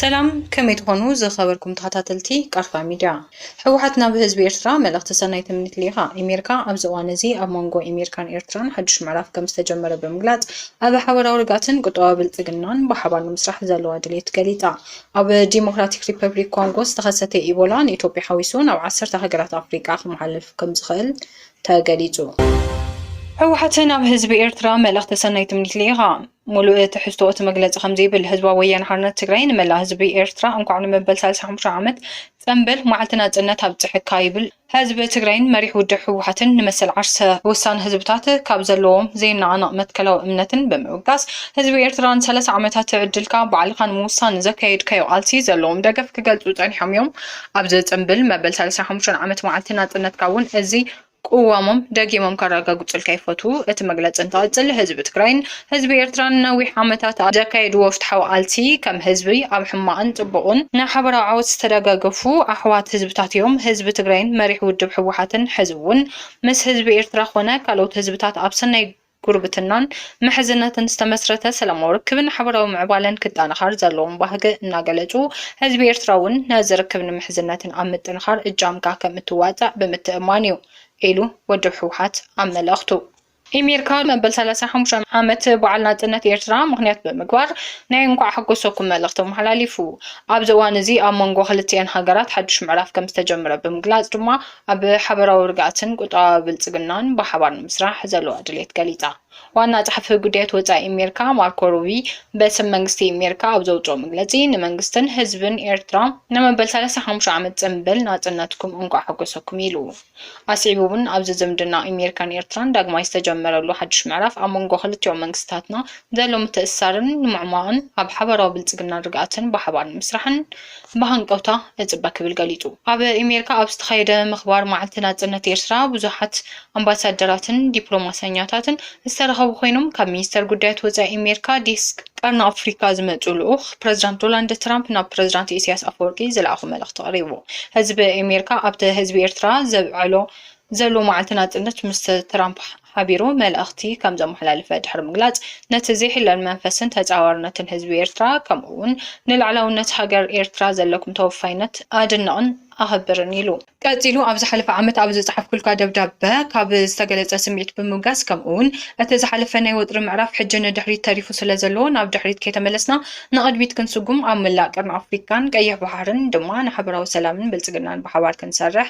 ሰላም ከመይ ትኾኑ ዝኸበርኩም ተኸታተልቲ ቃርፋ ሚድያ። ህወሓት ናብ ህዝቢ ኤርትራ መልእኽቲ ሰናይ ትምኒት ልኢኻ። ኤሜርካ ኣብዚ እዋን እዚ ኣብ መንጎ ኤሜርካን ኤርትራን ሓዱሽ ምዕራፍ ከምዝተጀመረ ብምግላጽ ኣብ ሓበራዊ ርግኣትን ቁጠባዊ ብልጽግናን ብሓባር ንምስራሕ ዘለዋ ድሌት ገሊጻ። ኣብ ዲሞክራቲክ ሪፐብሊክ ኮንጎ ዝተኸሰተ ኢቦላ ንኢትዮጵያ ሓዊሱ ናብ ዓሰርተ ሃገራት ኣፍሪቃ ክመሓለፍ ከምዝኽእል ተገሊፁ። ህወሓት ናብ ህዝቢ ኤርትራ መልእኽቲ ሰናይ ትምኒት ልኢኻ። ሙሉእ ትሕዝቶ እቲ መግለፂ ከምዚ ይብል፣ ህዝባዊ ወያነ ሓርነት ትግራይ ንመላእ ህዝቢ ኤርትራ እንኳዕ ንመበል ሳልሳይ ሓሙሻይ ዓመት ፅምብል መዓልቲ ናፅነት ኣብፀሐካ ይብል። ህዝቢ ትግራይን መሪሕ ውድብ ህወሓትን ንመሰል ዓርሰ ውሳነ ህዝብታት ካብ ዘለዎም ዘይነቓነቕ መትከላዊ እምነትን ብምብጋስ ህዝቢ ኤርትራ ንሰላሳ ዓመታት ዕድልካ ባዕልኻ ንምውሳን ንዘካየድካዮ ቃልሲ ዘለዎም ደገፍ ክገልፁ ፀኒሖም እዮም። ኣብዚ ጽንብል መበል ሰለሳን ሓሙሽተን ዓመት መዓልቲ ናጽነትካ እውን እዚ ቅዋሞም ደጊሞም ከረጋግጹልካ ይፈትዉ። እቲ መግለጺ እንትቕጽል፣ ህዝቢ ትግራይን ህዝቢ ኤርትራን ንነዊሕ ዓመታት ኣብ ዘካየድዎ ፍትሓዊ ቃልሲ ከም ህዝቢ ኣብ ሕማቕን ጽቡቕን ንሓበራዊ ዓወት ዝተደጋገፉ ኣሕዋት ህዝብታት እዮም። ህዝቢ ትግራይን መሪሕ ውድብ ህወሓትን ሕዚ እውን ምስ ህዝቢ ኤርትራ ኮነ ካልኦት ህዝብታት ኣብ ሰናይ ጉርብትናን ምሕዝነትን ዝተመስረተ ሰላማዊ ርክብን ሓበራዊ ምዕባለን ክጠናኸር ዘለዎም ባህጊ እናገለፁ፣ ህዝቢ ኤርትራ እውን ነዚ ርክብን ምሕዝነትን ኣብ ምጥንኻር እጃምካ ከምእትዋፃእ ብምትእምማን እዩ ኢሉ ውድብ ህወሓት ኣብ መልእኽቱ። ኢሜሪካ መበል ሰላሳ ሓሙሻይ ዓመት በዓል ናጽነት ኤርትራ ምኽንያት ብምግባር ናይ እንኳዕ ኣሐጎሰኩም መልእኽቲ ኣመሓላሊፉ። ኣብዚ እዋን እዚ ኣብ መንጎ ክልቲኤን ሃገራት ሓድሽ ምዕራፍ ከምዝተጀመረ ብምግላጽ ድማ ኣብ ሓበራዊ ርግኣትን ቁጠባዊ ብልጽግናን ብሓባር ንምስራሕ ዘለዋ ድሌት ገሊጻ። ዋና ጸሓፊ ጉዳያት ወጻኢ ኣሜሪካ ማርኮ ሩቢ በስም መንግስቲ ኣሜሪካ ኣብ ዘውጽኦ መግለጺ ንመንግስትን ህዝብን ኤርትራ ንመበል ሰላሳ ሓሙሽተ ዓመት ጽንብል ናጽነትኩም እንቋዕ ሓጎሰኩም ኢሉ። ኣስዒቡ'ውን ኣብዚ ዝምድና ኣሜሪካን ኤርትራን ዳግማይ ዝተጀመረሉ ሓድሽ ምዕራፍ ኣብ መንጎ ክልቲኦም መንግስታትና ዘሎ ምትእስሳርን ንምዕሟቕን ኣብ ሓባራዊ ብልጽግናን ርግኣትን ብሓባር ንምስራሕን ብሃንቀውታ እጽበ ክብል ገሊጹ። ኣብ ኢሜሪካ ኣብ ዝተኻየደ ምኽባር መዓልቲ ናጽነት ኤርትራ ብዙሓት ኣምባሳደራትን ዲፕሎማሰኛታትን ዝተረኸቡ ኮይኖም ካብ ሚኒስተር ጉዳያት ወጻኢ ኢሜሪካ ዴስክ ቀርኒ ኣፍሪካ ዝመጹ ልኡኽ ፕረዚዳንት ዶላንድ ትራምፕ ናብ ፕረዚዳንት ኢሰያስ ኣፈወርቂ ዝለኣኾ መልእኽቲ ቀሪቡ። ህዝቢ ኢሜሪካ ኣብቲ ህዝቢ ኤርትራ ዘብዐሎ ዘሎ መዓልቲ ናጽነት ምስ ትራምፕ ሓቢሩ መልእኽቲ ከም ዘመሓላለፈ ድሕሪ ምግላጽ፣ ነቲ ዘይሕለል መንፈስን ተጻዋርነትን ህዝቢ ኤርትራ ከምኡ'ውን ንልዕላውነት ሃገር ኤርትራ ዘለኩም ተወፋይነት ኣድንቕን ኣኸብርን ኢሉ። ቀጺሉ ኣብ ዝሓለፈ ዓመት ኣብ ዝጸሓፍኩልካ ደብዳበ፣ ካብ ዝተገለጸ ስምዒት ብምብጋስ ከምኡ'ውን እቲ ዝሓለፈ ናይ ወጥሪ ምዕራፍ ሕጂ ንድሕሪት ተሪፉ ስለ ዘሎ ናብ ድሕሪት ከይተመለስና ንቕድሚት ክንስጉም ኣብ መላእ ቀርኒ ኣፍሪቃን ቀይሕ ባሕርን ድማ ንሓበራዊ ሰላምን ብልጽግናን ብሓባር ክንሰርሕ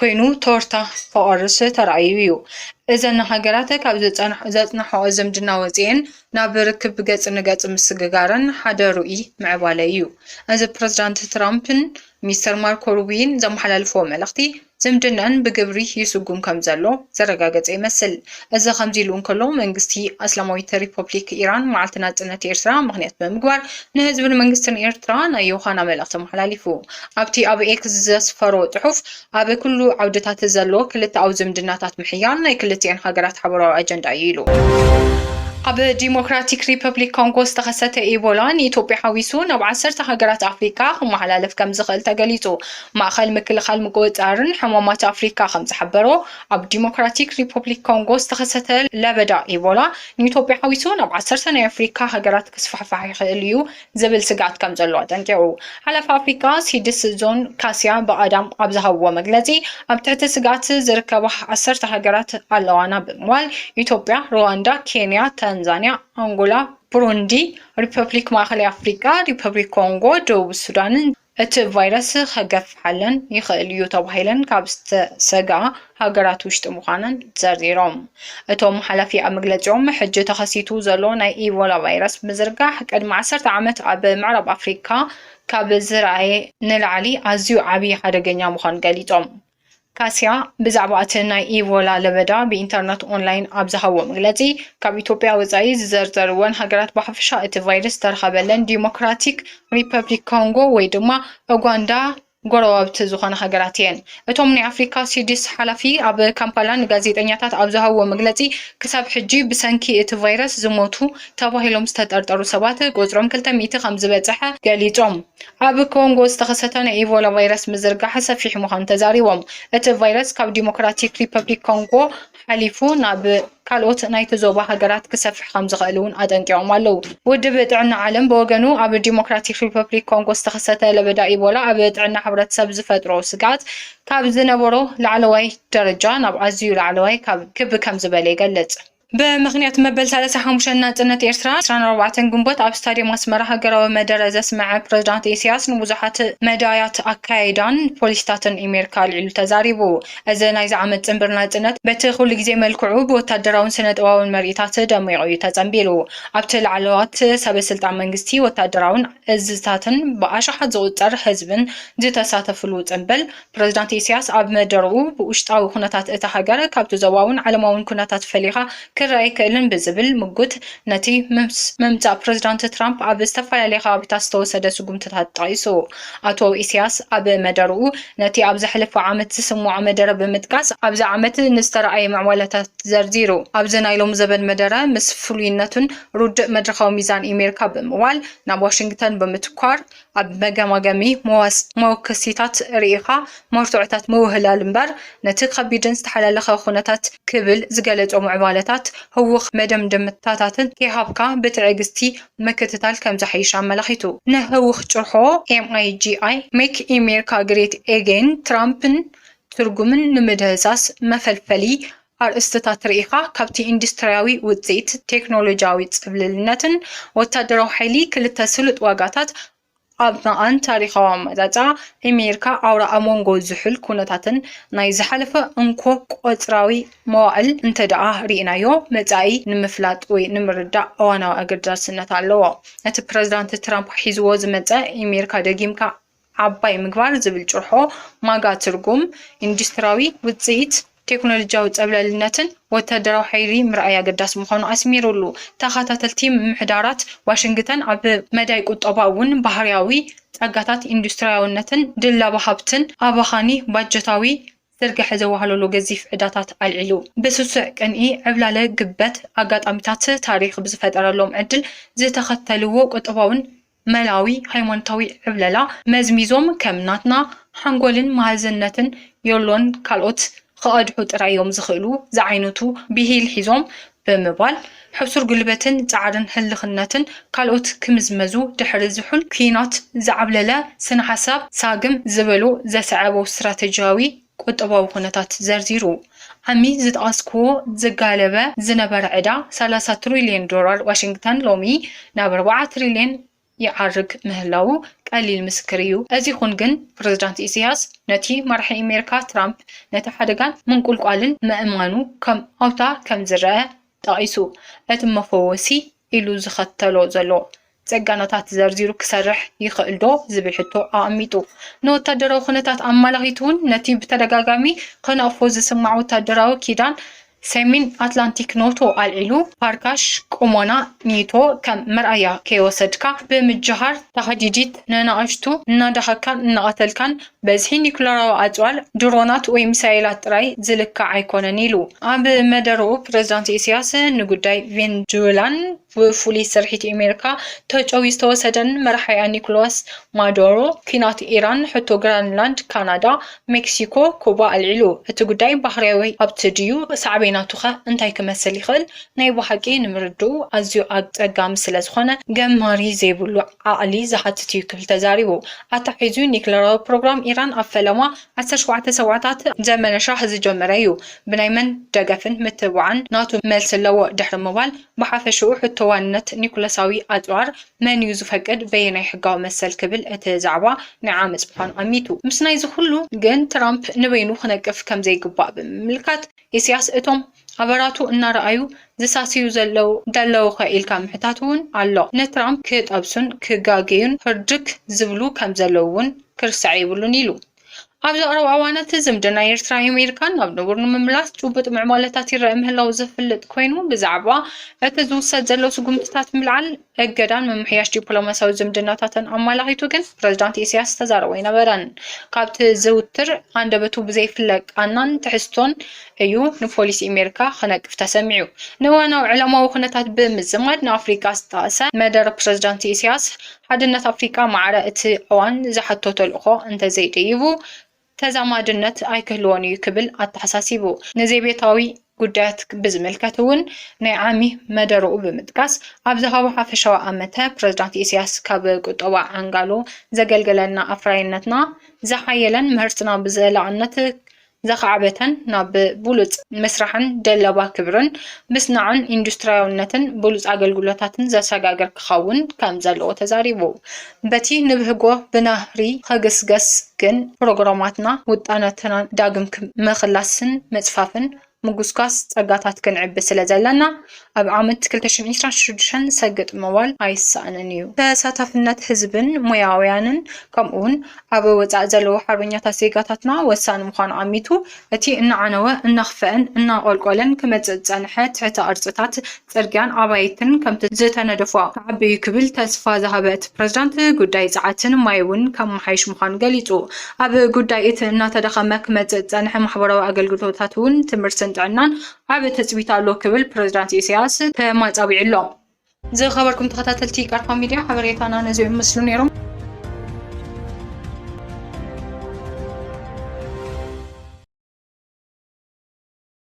ኮይኑ ቶርታ ፎኦርስ ተራእዩ እዩ። እዘን ሃገራት ካብ ዘጽናሕኦ ዝምድና ወጺኤን ናብ ርክብ ገጽ ንገጽ ምስግጋረን ሓደ ርኡይ ምዕባለ እዩ። እዚ ፕረዚዳንት ትራምፕን ሚስተር ማርኮ ሩብይን ዘመሓላልፍዎ መልእኽቲ ዝምድነኣን ብግብሪ ይስጉም ከምዘሎ ዘረጋገጸ ይመስል። እዚ ከምዚ'ሉ እንከሎ መንግስቲ ኣስላማዊት ሪፖፕሊክ ኢራን መዓልቲ ናጽነት ኤርትራ ምኽንያት ብምግባር ንህዝብን መንግስትን ኤርትራ ናይ ዮሃና መልእኽቲ ኣመሓላሊፉ። ኣብቲ ኣብ ኤክስ ዘስፈሮ ጽሑፍ፣ ኣብ ኩሉ ዓውድታት ዘሎ ክልተኣዊ ዝምድናታት ምሕያል ናይ ክልቲኤን ሃገራት ሓበራዊ ኣጀንዳ እዩ ኢሉ። ኣብ ዲሞክራቲክ ሪፐብሊክ ኮንጎ ዝተኸሰተ ኢቦላ ንኢትዮጵያ ሓዊሱ ናብ ዓሰርተ ሃገራት ኣፍሪቃ ክመሓላለፍ ከምዝኽእል ተገሊጹ። ማእኸል ምክልኻል ምቁጽጻርን ሕማማት ኣፍሪካ ከምዝሓበሮ፣ ኣብ ዲሞክራቲክ ሪፐብሊክ ኮንጎ ዝተኸሰተ ለበዳ ኢቦላ ንኢትዮጵያ ሓዊሱ ናብ ዓሰርተ ናይ ኣፍሪካ ሃገራት ክስፋሕፋሕ ይኽእል እዩ ዝብል ስግኣት ከም ዘሎ ኣጠንቂቑ። ሓላፊ ኣፍሪቃ ሲድስ ዞን ካስያ ብኣዳም ኣብ ዝሃብዎ መግለጺ፣ ኣብ ትሕቲ ስግኣት ዝርከባ ዓሰርተ ሃገራት ኣለዋና ብምባል፣ ኢትዮጵያ፣ ሩዋንዳ፣ ኬንያ፣ ታንዛንያ፣ ኣንጎላ፣ ብሩንዲ፣ ሪፐብሊክ ማእከላይ ኣፍሪቃ፣ ሪፐብሊክ ኮንጎ፣ ደቡብ ሱዳንን እቲ ቫይረስ ከገፍሓለን ይኽእል እዩ ተባሂለን ካብ ዝተሰግኣ ሃገራት ውሽጢ ምዃነን ዘርዚሮም። እቶም ሓላፊ ኣብ መግለፂኦም፣ ሕጂ ተኸሲቱ ዘሎ ናይ ኢቮላ ቫይረስ ምዝርጋሕ ቅድሚ ዓሰርተ ዓመት ኣብ ምዕራብ ኣፍሪካ ካብ ዝርኣየ ንላዕሊ ኣዝዩ ዓብዪ ሓደገኛ ምዃኑ ገሊፆም። ካሲያ ብዛዕባ እቲ ናይ ኢቮላ ለበዳ ብኢንተርነት ኦንላይን ኣብ ዝሃቦ መግለጺ፣ ካብ ኢትዮጵያ ወጻኢ ዝዘርዘርወን ሃገራት ብሓፈሻ እቲ ቫይረስ ዝተረኸበለን ዲሞክራቲክ ሪፐብሊክ ኮንጎ ወይ ድማ ኡጋንዳ ጎረባብቲ ዝኾና ሃገራት እየን። እቶም ናይ ኣፍሪካ ሲዲስ ሓላፊ ኣብ ካምፓላ ንጋዜጠኛታት ኣብ ዝሃብዎ መግለጺ፣ ክሳብ ሕጂ ብሰንኪ እቲ ቫይረስ ዝሞቱ ተባሂሎም ዝተጠርጠሩ ሰባት ቁጽሮም ክልተ ሚእቲ ከምዝበጽሐ ገሊጾም። ኣብ ኮንጎ ዝተኸሰተ ናይ ኢቮላ ቫይረስ ምዝርጋሕ ሰፊሕ ምዃኑ ተዛሪቦም። እቲ ቫይረስ ካብ ዲሞክራቲክ ሪፐብሊክ ኮንጎ ሓሊፉ ናብ ካልኦት ናይቲ ዞባ ሃገራት ክሰፍሕ ከም ዝኽእል እውን ኣጠንቂቖም ኣለዉ። ውድብ ጥዕና ዓለም ብወገኑ ኣብ ዲሞክራቲክ ሪፐብሊክ ኮንጎ ዝተኸሰተ ለበዳ ኢቦላ ኣብ ጥዕና ሕብረተሰብ ዝፈጥሮ ስግኣት ካብ ዝነበሮ ላዕለዋይ ደረጃ ናብ ኣዝዩ ላዕለዋይ ክብ ከም ዝበለ ይገልጽ። ብምኽንያት መበል ሰላሳ ሓሙሽተ ናጽነት ኤርትራ ዕስራን ኣርባዕተን ግንቦት ኣብ ስታድየም ኣስመራ ሃገራዊ መደረ ዘስመዐ ፕረዚዳንት ኢሳያስ ንብዙሓት መዳያት ኣካያይዳን ፖሊሲታትን ኢሜርካ ኣልዒሉ ተዛሪቡ። እዚ ናይዚ ዓመት ጽንብር ናጽነት በቲ ኩሉ ግዜ መልክዑ ብወታደራውን ስነጥበባውን ምርኢታት ደሚቑ እዩ ተጸንቢሩ። ኣብቲ ላዕለዋት ሰበ ስልጣን መንግስቲ፣ ወታደራውን እዝታትን ብኣሽሓት ዝቑጸር ህዝብን ዝተሳተፍሉ ጽንብል፣ ፕሬዝዳንት ኢሳያስ ኣብ መደረኡ፣ ብውሽጣዊ ኩነታት እታ ሃገር ካብቲ ዞባውን ዓለማውን ኩነታት ፈሊኻ ክረኣ ኣይክእልን ብዝብል ምጉት፣ ነቲ ምስ ምምጻእ ፕሬዝዳንት ትራምፕ ኣብ ዝተፈላለየ ከባቢታት ዝተወሰደ ስጉምትታት ጠቒሱ። ኣቶ ኢሳያስ ኣብ መደረኡ፣ ነቲ ኣብ ዝሓለፈ ዓመት ዝስምዖ መደረ ብምጥቃስ፣ ኣብዚ ዓመት ንዝተራእየ ምዕባለታት ዘርዚሩ። ኣብዚ ናይ ሎሚ ዘበን መደረ፣ ምስ ፍሉይነቱን ርዱእ መድረኻዊ ሚዛን ኢሜሪካ ብምዋል፣ ናብ ዋሽንግተን ብምትኳር፣ ኣብ መገማገሚ መወከሲታት ርኢኻ መርትዖታት ምውህላል እምበር፣ ነቲ ከቢድን ዝተሓላለኸ ኩነታት ክብል ዝገለጾ ምዕባለታት ህዉኽ መደምደምታታትን ከይሃብካ ብትዕግስቲ ምክትታል ከምዝሓይሽ ኣመላኺቱ። ንህዉኽ ጭርሖ MIGI፣ Make America Great Again፣ ትራምፕን ትርጉምን ንምድህሳስ መፈልፈሊ ኣርእስትታት ርኢኻ ካብቲ ኢንዱስትርያዊ ውጽኢት፣ ቴክኖሎጅያዊ ጽብልልነትን ወታደራዊ ሓይሊ ክልተ ስሉጥ ዋጋታት ኣብ መቓን ታሪኻዊ ኣመጻጽኣ ኤሜሪካ ኣውራ ኣብ መንጎ ዝሑል ኩነታትን ናይ ዝሓለፈ እንኮ ቆጽራዊ መዋእል እንተድኣ ርኢናዮ መጻኢ ንምፍላጥ ወይ ንምርዳእ እዋናዊ ኣገዳስነት ኣለዎ ነቲ ፕረዚዳንት ትራምፕ ሒዝዎ ዝመጸ ኤሜሪካ ደጊምካ ዓባይ ምግባር ዝብል ጭርሖ ማጋ ትርጉም፣ ኢንዱስትሪያዊ ውጽኢት፣ ቴክኖሎጂያዊ ጸብለልነትን ወተሃደራዊ ሓይሊ ምርኣይ ኣገዳሲ ምዃኑ ኣስሚሩሉ። ተኸታተልቲ ምምሕዳራት ዋሽንግተን ኣብ መዳይ ቁጠባ እውን ባህርያዊ ጸጋታት ኢንዱስትሪያውነትን ድለባ ሃብትን ኣባኻኒ ባጀታዊ ዝርግሐ ዘዋህለሎ ገዚፍ ዕዳታት ኣልዒሉ። ብስሱዕ ቅንኢ ዕብላለ ግበት ኣጋጣሚታት ታሪኽ ብዝፈጠረሎም ዕድል ዝተኸተልዎ ቁጠባውን መላዊ ሃይማኖታዊ ዕብለላ መዝሚዞም ከም ናትና ሓንጎልን መሃዝነትን ዮሎን ካልኦት ኽቐድሑ ጥራይ እዮም ዝኽእሉ ዝዓይነቱ ቢሂል ሒዞም ብምባል ሕሱር ጉልበትን ጻዕርን ህልኽነትን ካልኦት ክምዝመዙ ድሕሪ ዝሑል ኩናት ዝዓብለለ ስነሓሳብ ሳግም ዝበሎ ዘሰዐቦ ስትራተጂያዊ ቁጠባዊ ኩነታት ዘርዚሩ። ዓሚ ዝጠቐስኩዎ ዝጋለበ ዝነበረ ዕዳ ሰላሳ ትሪልየን ዶላር ዋሽንግተን ሎሚ ናብ ኣርባዓ ትሪልየን ይዓርግ ምህላዉ ቀሊል ምስክር እዩ። እዚ ይኹን ግን ፕረዚዳንት ኢሰያስ ነቲ መራሒ ኣሜሪካ ትራምፕ ነቲ ሓደጋን ምንቁልቋልን ምእማኑ ከም ኣውታ ከም ዝረኣ ጠቒሱ እቲ መፈወሲ ኢሉ ዝኸተሎ ዘሎ ጸጋኖታት ዘርዚሩ ክሰርሕ ይኸእልዶ ዝብል ሕቶ ኣቐሚጡ። ንወታደራዊ ኩነታት ኣማላኺቱውን ነቲ ብተደጋጋሚ ከነቕፎ ዝስማዕ ወታደራዊ ኪዳን ሰሚን ኣትላንቲክ ኖቶ ኣልዒሉ፣ ፓርካሽ ቁሞና ኒቶ ከም መርኣያ ከይወሰድካ ብምጅሃር፣ ታህዲዲት ነናእሽቱ እናዳሃካን እናቐተልካን በዝሒ ኒዩክለራዊ ኣጽዋር፣ ድሮናት ወይ ሚሳይላት ጥራይ ዝልካዕ ኣይኮነን ኢሉ። ኣብ መደረኡ ፕረዚዳንት ኢሳያስ ንጉዳይ ቬንዙዌላን ብፍሉይ ስርሒት ኣሜሪካ ተጨውዩ ዝተወሰደን መራሒኣ ኒኮላስ ማዱሮ፣ ኲናት ኢራን፣ ሕቶ ግራንላንድ፣ ካናዳ፣ ሜክሲኮ፣ ኩባ ኣልዒሉ። እቲ ጉዳይ ባህርያዊ ሃብቲ ድዩ ሳዕቤናቱኸ እንታይ ክመስል ይኽእል ናይ ብሓቂ ንምርድኡ ኣዝዩ ኣጸጋሚ ስለዝኾነ ገማሪ ዘይብሉ ዓቕሊ ዝሓትት እዩ ክብል ተዛሪቡ። ኣተሓሒዙ ኒክለራዊ ፕሮግራም ኢራን ኣብ ፈለማ ዓሰርተ ሸውዓተ ሰብዓታት ዘመነ ሻህ ዝጀመረ እዩ፣ ብናይ መን ደገፍን ምትብባዕን ናቱ መልሲ ኣለዎ ድሕሪ ምባል፣ ብሓፈሽኡ ሕቶ ዋንነት ኒኩለሳዊ ኣጽዋር መን እዩ ዝፈቅድ፣ በየናይ ሕጋዊ መሰል ክብል እቲ ዛዕባ ናይ ዓመጽ ምዃኑ ኣሚቱ። ምስናይዚ ኩሉ ግን ትራምፕ ንበይኑ ክነቅፍ ከምዘይግባእ ብምምልካት፣ ኢሲያስ እቶም። ኣበራቱ እናረኣዩ ዝሳስዩ ዘለው ደለውኸ ኢልካ ምሕታት እውን ኣሎ። ንትራምፕ ክጠብሱን ክጋገዩን ህርድግ ዝብሉ ከምዘለው እውን ክርሳዕ የብሉን ኢሉ። ኣብዚ ቀረባ እዋናት ዝምድና ኤርትራን ኣሜሪካን ናብ ንቡር ንምምላስ ጭቡጥ ምዕባለታት ይረኣ ምህላው ዝፍለጥ ኮይኑ ብዛዕባ እቲ ዝውሰድ ዘሎ ስጉምትታት ምልዓል እገዳን ምምሕያሽ ዲፕሎማሲያዊ ዝምድናታትን ኣመላኺቱ ግን ፕሬዝዳንት ኢሳያስ ዝተዛረቦ ኣይነበረን። ካብቲ ዝዝውትር ኣንደበቱ ብዘይፍለ ቃናን ትሕዝቶን እዩ ንፖሊሲ ኣሜሪካ ክነቅፍ ተሰሚዑ። ንእዋናዊ ዓለማዊ ኩነታት ብምዝማድ ንኣፍሪቃ ዝጠቐሰ መደረ ፕሬዝዳንት ኢሳያስ፣ ሓድነት ኣፍሪቃ ማዕረ እቲ እዋን ዝሓቶ ተልእኾ እንተዘይደይቡ ተዛማድነት ኣይክህልዎን እዩ ክብል ኣተሓሳሲቡ። ንዘቤታዊ ጉዳያት ብዝምልከት እውን ናይ ዓሚ መደረኡ ብምጥቃስ ኣብ ዝሃቦ ሓፈሻዊ ኣመተ፣ ፕረዚዳንት ኢሳያስ ካብ ቁጠባ ዓንጋሎ ዘገልገለና ኣፍራይነትና ዝሓየለን ምህርትና ብዘላቕነት ዘኻዕበተን ናብ ብሉጽ ምስራሕን ደለባ ክብርን ምስናዕን ኢንዱስትርያውነትን ብሉጽ ኣገልግሎታትን ዘሰጋግር ክኸውን ከምዘለዎ ተዛሪቡ። በቲ ንብህጎ ብናህሪ ኸግስገስ ግን ፕሮግራማትና ውጣናትናን ዳግም ምኽላስን ምጽፋፍን ምጉስጓስ ጸጋታት ክንዕቢ ስለ ዘለና ኣብ ዓመት ክልተ ሽሕን ዒስራን ሽዱሽተን ሰግጥ ምባል ኣይሰኣንን እዩ። ተሳታፍነት ህዝብን ሞያውያንን ከምኡውን ኣብ ወጻኢ ዘለዉ ሓርበኛታት ዜጋታትና ወሳኒ ምዃኑ ኣሚቱ እቲ እናዓነወ እናኽፈአን እናቖልቆለን ክመጽእ ዝጸንሐ ትሕተ-ቅርጽታት ጽርግያን ኣባይትን ከምቲ ዝተነደፎ ክዓብዩ ክብል ተስፋ ዝሃበ እቲ ፕረዚዳንት፣ ጉዳይ ጸዓትን ማይ'ውን ከመሓይሽ ምዃኑ ገሊጹ። ኣብ ጉዳይ እቲ እናተዳኸመ ክመጽእ ዝጸንሐ ማሕበራዊ ኣገልግሎታት'ውን ትምህርትን ጥዕናን ዓቢ ትጽቢት ኣሎ ክብል ፕረዚዳንት ኢሳያስ ተማጻቢዑ'ሎ። ዝኸበርኩም ተኸታተልቲ ቃልካ ሚድያ ሓበሬታና ነዚኦም ይመስሉ ነይሮም።